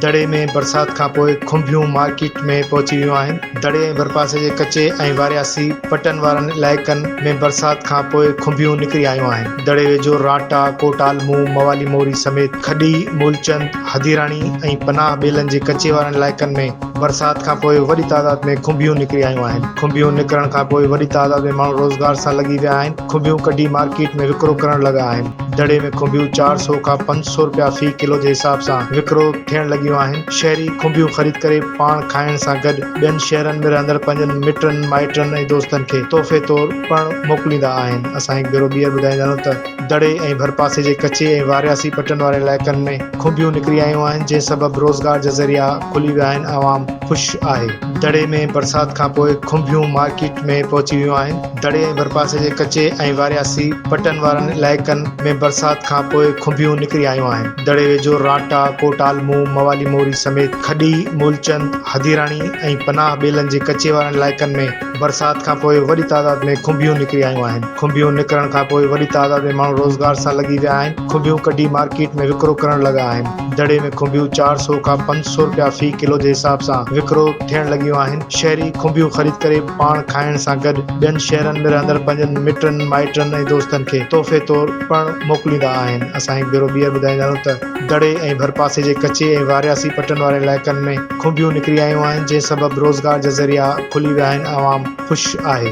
دڙي ۾ برسات کانپوء کنڀيون مارڪيٽ ۾ پهچي ويون آهن دڙي ۽ ڀرپاسي جي ڪچي ۽ وارياسي پٽن وارن علائقن ۾ برسات کانپوء کنڀيون نڪري آيون آهن دڙي ويجهو راٽا ڪوٽ عالمو موالي موري سميت کڏي مولچند هديراڻي ۽ پناهه ٻيلن جي ڪچي وارن علائقن ۾ برسات کان پوء وڏي تعداد ۾ کنڀيون نڪري آيون آهن، کنڀيون نڪرڻ کان پوء وڏي تعداد ۾ ماڻهو روزگار سان لڳي ويا آهن، کنڀيون ڪڍي مارڪيٽ ۾ وڪرو ڪرڻ لڳا آهن، دڙي ۾ کنڀيون چار سؤ کان پنج سؤ رپيا في ڪلو جي حساب سان وڪرو ٿيڻ لڳيون آهن، شهري کنڀيون خريد ڪري پاڻ کائڻ سان گڏ ٻين شهرن ۾ رهندڙ پنهنجن مٽن مائٽن ۽ دوستن کي تحفي طور پڻ موڪليندا آهن، اسان هڪ ڀيرو ٻيهر ٻڌائيندارون ته. دڙي ۽ ڀرپاسي جي ڪچي ۽ وارياسي پٽن وارن علائقن ۾ کنڀيون نڪري آيون آهن، جنهن سبب روزگار جا ذريعا کلي ويا آهن، عوام خوش آهي. دڙي ۾ برسات کانپوء کنڀيون مارڪيٽ ۾ پهچي ويون آهن. دڙي ۽ ڀرپاسي جي ڪچي ۽ وارياسي پٽن وارن علائقن ۾ برسات کانپوء کنڀيون نڪري آيون آهن. دڙي ويجهو رانٽا، ڪوٽ عالمو، موالي موري سميت کڏي، مولچند، هديراڻي ۽ پناهه ٻيلن جي ڪچي وارن علائقن ۾ برسات کان پوء وڏي تعداد ۾ کنڀيون نڪري آيون آهن، کنڀيون نڪرڻ کان پوء وڏي تعداد ۾ ماڻهو روزگار سان لڳي ويا آهن، کنڀيون ڪڍي مارڪيٽ ۾ وڪرو ڪرڻ لڳا آهن، دڙي ۾ کنڀيون چار سؤ کان پنج سؤ رپيا في ڪلو جي حساب سان وڪرو ٿيڻ لڳيون آهن، شهري کنڀيون خريد ڪري پاڻ کائڻ سان گڏ ٻين شهرن ۾ رهندڙ پنهنجن مٽن مائٽن ۽ دوستن کي تحفي طور پڻ موڪليندا آهن، اسان هڪ ڀيرو ٻيهر ٻڌائيندا آهيون ته دڙي ۽ ڀرپاسي جي ڪچي ۽ وارياسي پٽن وارن علائقن ۾. کونبيون نڪري آيون آهن جنهن سبب روزگار جا ذريعا کلي ويا آهن عوام خوش آهي.